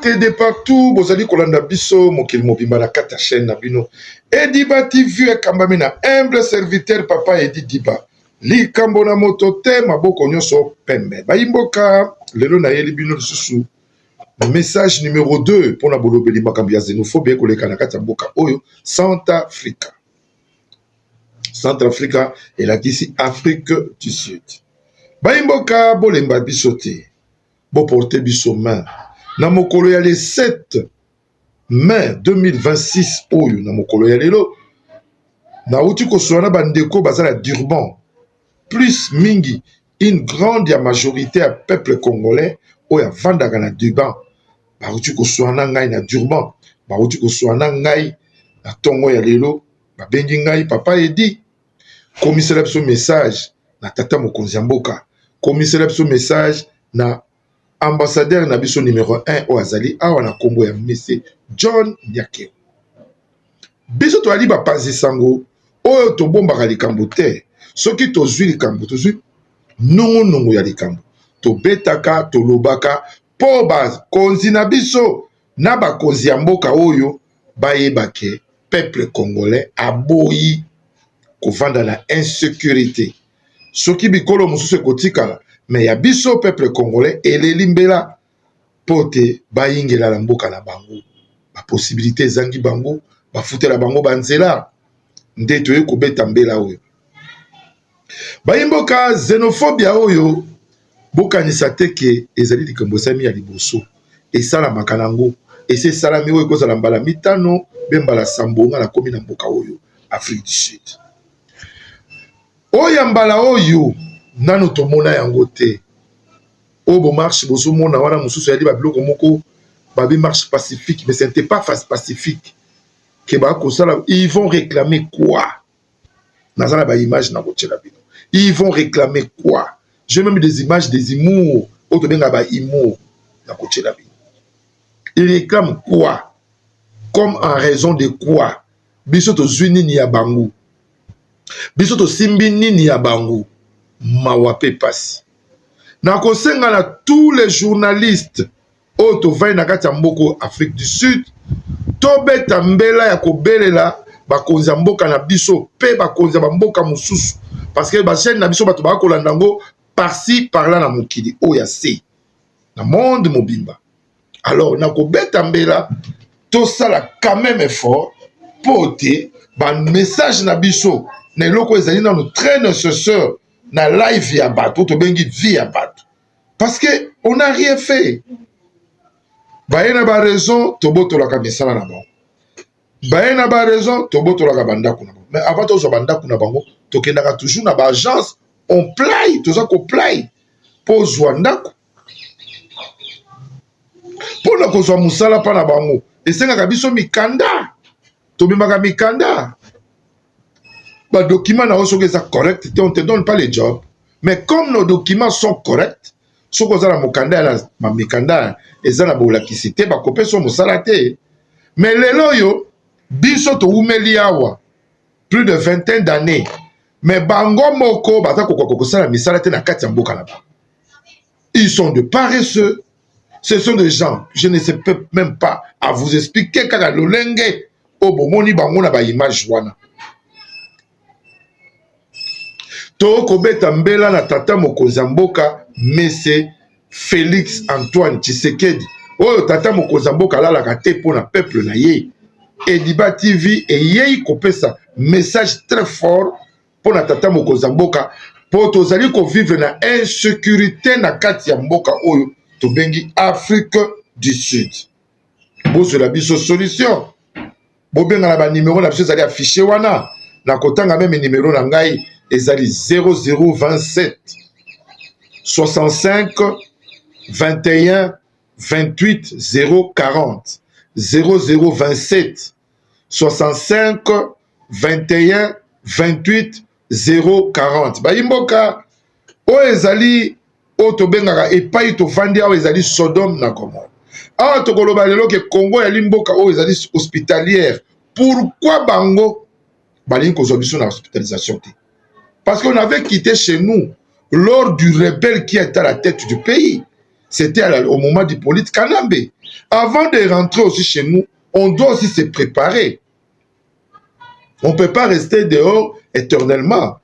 mbote de partout bozali kolanda biso mokili mobimba na kati ya chaîne na bino ediba tv ekambami na humble serviteur papa edi diba likambo na moto te maboko nyonso pembe bayimboka lelo nayeli bino lisusu Message numero 2 pona bolobeli makambo ya xenophobia ekoleka na kati ya mboka oyo Centrafrica. Centrafrica elakisi Afrique du Sud. Bayi mboka bolemba biso te, boporte biso main na mokolo ya le 7 mai 2026 oyo na mokolo ya lelo nauti koswana na bandeko baza na durban plus mingi une grande ya majorité ya peuple congolais oyo avandaka na durban bauti koswana ngai na durban bauti koswana ngai na ntongo ya lelo babengi ngai papa edi komisela biso message na tata mokonzi ya mboka komisela biso message na ambassadeur na biso numero 1 oyo azali awa na nkombo ya mese john nyakeo biso toyali bapanzi sango oyo tobombaka likambo te soki tozwi likambo tozwi nungunungu ya likambo tobetaka tolobaka mpo bakonzi na biso na bakonzi ya mboka oyo bayebake peuple congolais aboyi kovanda na insecurité soki bikolo mosusu ekotikala me ya biso peuple congolais eleli mbela mpo te bayingela na mboka na bango baposibilite ezangi bango bafutela bango banzela nde toye kobeta mbela oyo bayimboka xenofobia oyo bokanisa te ke ezali likambo esami ya liboso esalamaka nango esi esalami oyo ekozala mbala mitano mpe mbala sambo nga nakomi na mboka oyo afrique du sud Oyo ya mbala oyo nanu tomona yango te oyo bo marche bozomona wana mosusu eyali ba biloko moko babi marche pacifique mais ce n'etait pas face pacifique que ba kosala ils vont reclamer quoi? naza na ba image na kotiela bino ils vont reclamer quoi? j'ai meme des images des humours oyo tobengaka ba humours na kotiela bino ils reclament quoi? comme en raison de quoi? biso tozwi nini ya bango biso tosimbi nini ya bango mawa mpe mpasi nakosenga na tous les journalistes oyo tovandi na kati ya mboko afrique du sud tobeta mbela ya kobelela bakonzi ya mboka na biso mpe bakonzi ya bamboka mosusu parce que bachaine na biso bato baka kolanda yango parci parla na mokili oyo ya se na monde mobimba alors na kobeta mbela tosala quand même effort mpo te bamessage na biso na eloko ezali nano très nécessaire na live ya bato tobengi vie ya bato parce que on a rien fait baye na baraison tobotolaka misala na bango baye na baraison tobotolaka bandako na bango mais avant tozwa bandako na bango tokendaka toujours na baagence on play toza koplay mpo ozwa ndako mpo na kozwa mosala mpa na bango esengaka biso mikanda tomemaka mikanda badokima na yo soki eza correct te on te donne pas le job mais comme nos documents sont corrects soki oza na mokanda ya na mikanda eza na bolakisi te bakopesa mosala te mais lelo oyo biso towumeli awa plus de vingtaine d'années mais bango moko baza kokoka kosala misala te na kati ya mboka na bango Ils sont de paresseux. Ce sont des gens, je ne sais peux même pas à vous expliquer kaka lolenge oyo bomoni bango na baimage wana. To kobeta mbela na tata mokonzi ya mboka mese Felix Antoine Tshisekedi oyo tata mokonzi ya mboka alalaka te mpo na peuple na ye. Ediba TV eyei kopesa message très fort mpo na tata mokonzi ya mboka mpo tozali kovivre na insecurite na kati ya mboka oyo tobengi afrique du sud bozwela biso solution bobengana banimero na biso ezali affiche wana na kotanga meme nimero na ngai ezali 0027 65 21 28 040 0027 65 21 28 040 bayi mboka oyo ezali oyo tobengaka epai tofandi awa ezali sodome na gomore awa tokoloba lelo ke kongo yali mboka oyo ezali hospitalière pourkui bango balingi kozwa biso na hospitalisation te parce qu'on avait quitté chez nous lors du rebelle qui est à la tête du pays c'était au moment du polite kanambe avant de rentrer aussi chez nous On doit aussi se préparer. On ne peut pas rester dehors éternellement.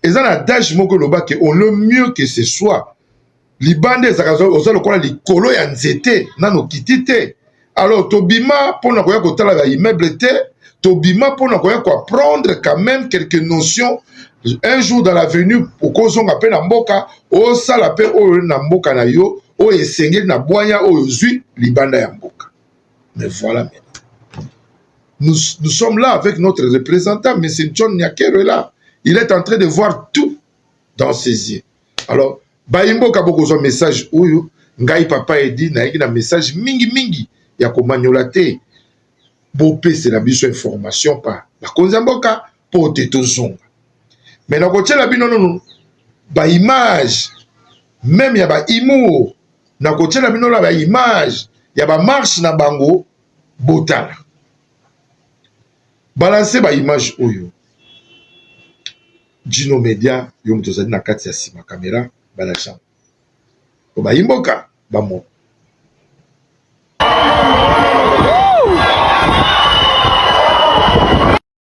Et ça, l'adage moko loba que on le mieux que ce soit. libanda ezalaka oza lokola likolo ya nzete nano kiti te alors tobima mpo na koya kotala ba immeuble te tobima mpo na koya koapprendre quand même quelques notions un jour dans l'avenue okozonga mpe na mboka osala mpe oyo na mboka na yo oyo esengeli na bwanya oyo ozwi libanda ya mboka Mais voilà maintenant. Nous, nous sommes là avec notre représentant, M. John Nyakero est là. Il est en train de voir tout dans ses yeux. Alors, bayimboka bokozwa message oyo ngai papa edi nayaki na message mingi mingi ya komanyola te bopesela biso information pa bakonzi ya mboka mpo te tozonga me nakotyela bino nono baimage meme ya bahumour na kotiela bino na ba image ya ba marche na bango botala balanse ba image oyo jino media yo moto ozali na kati ya nsima kamera balakisa po bayi mboka bamona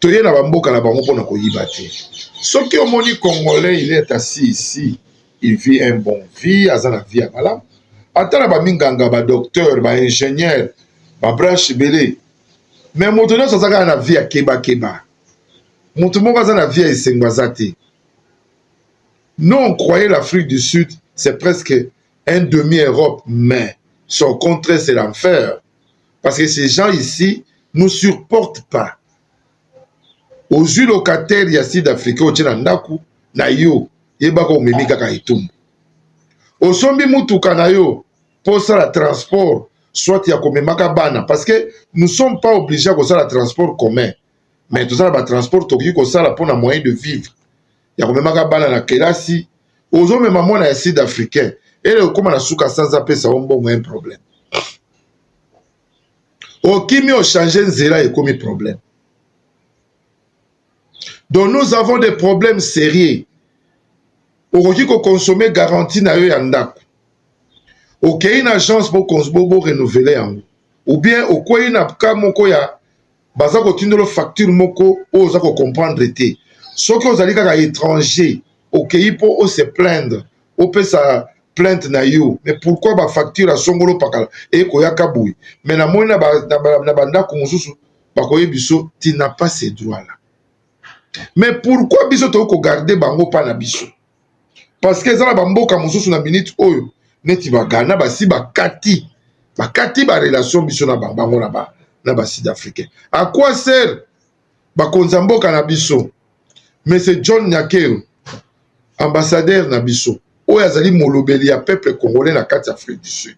toye na bamboka na bango mpona koyiba te soki omoni congolais il est assis ici il vit un bon vie aza na vie ya malamu ata na baminganga badocteur baingénieur babranche ebele me moto nyonso aza kaka na vie ya kebakeba moto moko aza na vie ya esengo aza te non croyez l'afrique du sud c'est presque un demi europe mais son contraire c'est l'enfer parce que ces gens ici nous supporte pas ozwi locataire ya sud africain otie na ndako na yo yebaka omemi kaka etumbu osombi mutuka na yo mpo osala transport soit ya komemaka bana parce que nous sommes pas obligé ya kosala transport commun mais toza na batransport tokoki kosala mpo na moyen de vivre ya komemaka bana na kelasi ozomema mwana ya sud africain ele okóma na suka sanza apesa yo mbongo un problème okimi ochange nzela ekomi problème donc nous avons des problèmes sérieux okoki kokonsome garantie na yo ya ndako okei na agence borenouveler yango ou bien okwei na ka moko ya baza kotindolo facture moko oyo oza kocomprendre te soki ozali kaka étranger okei mpo o se plaindre opesa plainte na yo mais pourquoi bafacture ya songolo pakala eye koyaka boye mais namoni na bandako mosusu bakoye biso tina pas ce droit la mais pourquoi biso toki kogarde bango mpa na biso parce que eza na bamboka mosusu na minute oyo neti bagana basi bakati bakati barelation biso na bango na ba na ba sud africain à quoi sert bakonza mboka na biso monsieur john nyakero ambassadeur na biso oyo azali molobeli ya peuple congolais na kati ya afrique du sud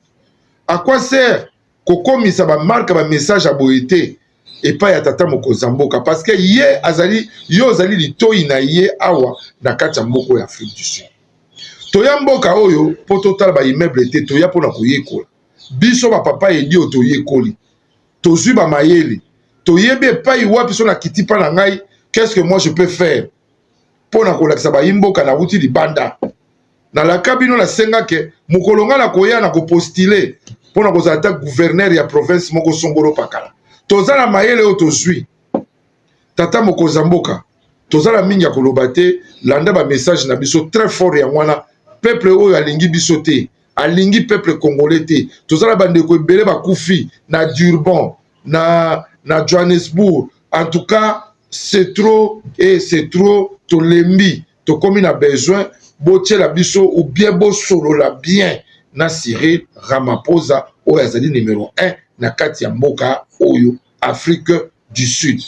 à quoi sert kokomisa bamarke bamessage ya boye te epai ya tata mokonzi ya mboka parceke ye azali ye ozali litoi na ye awa na kati ya mboko ya afrique du sud toya mboka oyo mpo totala baimmeuble te toya mpo na koyekola biso bapapa edio toyekoli tozwi bamayele toyebi epai wapi so na kiti mpa na ngai qu'est ce que moi je peux faire mpo na kolakisa bayimboka na wuti libanda nalaka bino nasenga ke mokolo ngai nakoya na kopostile mpo na kozala ata guvernere ya province moko songolo pakala toza na mayele oyo tozwi tata mokonzi ya mboka toza na mingi ya koloba te landa bamessage na biso très fort yango wana peuple oyo alingi biso te alingi peuple congolais te toza na bandeko ebele bakufi na durban na, na Johannesburg. En tout cas, c'est trop et eh, c'est trop, tolembi, tokomi na besoin botiela biso ou bien bosolola bien na Cyril Ramaphosa oyo azali numero 1 na kati ya mboka oyo Afrique du Sud.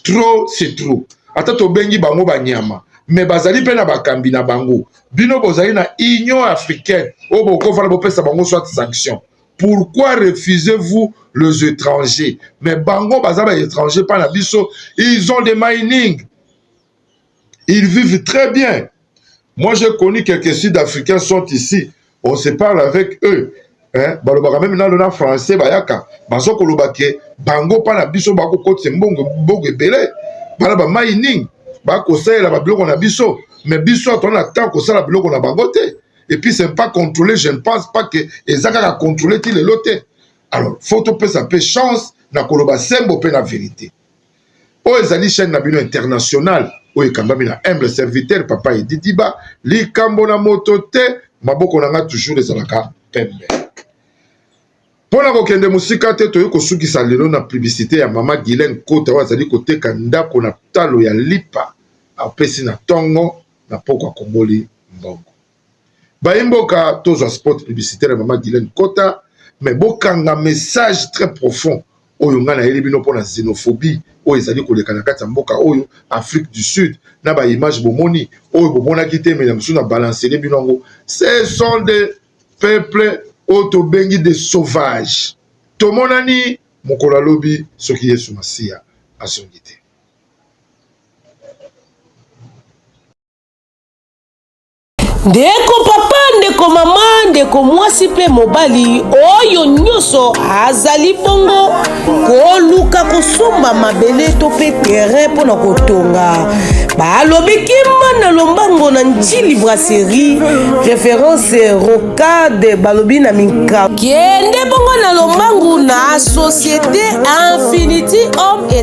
Trop c'est trop. Ata tobengi bango banyama me bazali mpe na bakambi na bango bino bozali na union africaine oyo bokofana bopesa bango soit sanction pourquoi refusez-vous les étrangers mais bango baza ba étrangers mpa na biso ils ont des mining ils vivent très bien moi j'ai connu quelques sud africains sont ici on se parle avec eux hein? balobaka meme nano na français bayaka bazo koloba ke bango mpa na biso bakokotisa mbongo mbongo ebele bana ba mining bakosalela babiloko na biso mais biso atona na temps kosala biloko na bango te et puis c'est pas contrôlé je ne pense pas que eza kaka contrôlé ti lelo te alors faut topesa mpe chance na koloba sembo mpe na verité oyo ezali chaîne na bino internationale oyo ekambami na humble serviteur papa edidiba likambo na moto te maboko na ngai toujours ezalaka pembe mpo na kokende mosika te toyei kosukisa lelo na publicité ya mama gilen kota oyo azali koteka ndako na talo ya lipa apesi na ntongo na pokwa kongoli mbongo bayi mboka tozwa spot publicitaire ya mama Guylaine Kota mais bokanga message très profond oyo ngai nayeli bino mpo na xenophobie oyo ezali koleka na kati ya mboka oyo Afrique du Sud na ba image bomoni oyo bomonaki te mais na mosusu na balancele bino yango ce sont des peuples oyo tobengi des sauvages tomonani mokolo alobi soki Yesu Masiya azongi te ndeko papa ndeko mama ndeko mwasi mpe mobali oyo nyonso azali bongo koluka kosomba mabele to mpe terrain mpo na kotonga balobi kimba na lombango na ntili brasserie référence rocade balobi na minka kende bongo na lombangu na société infinity homme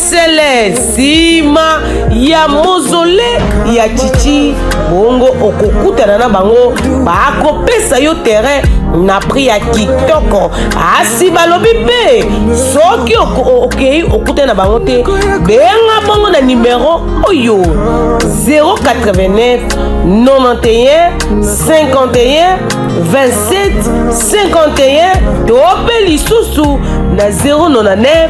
sele nsima ya mozole ya chichi bongo okokutana na bango bakopesa yo terrain na prix ya kitoko asi balobi mpe soki okei okutani na bango te benga bongo na nimero oyo 089 91 51 27 51 to mpe lisusu na 099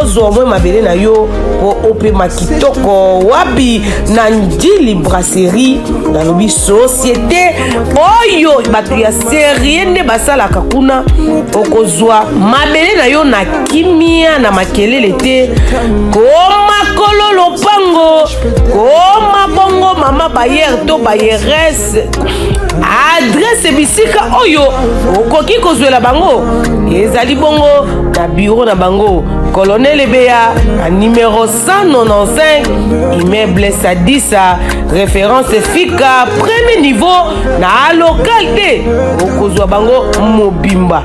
ozwa omwe mabele na yo mpo opema kitoko wapi na ndili brasserie nalobi societe oyo bato ya serie nde basalaka kuna okozwa mabele na yo na kimia na makelele te komakolo lopango koma bongo mama bayer to bayeres adresse adresse bisika oyo okoki kozwela bango ezali bongo na biro na bango colonel ebeya na numero 195 immeuble sadisa référence fika premier niveau na local te okozwa bango mobimba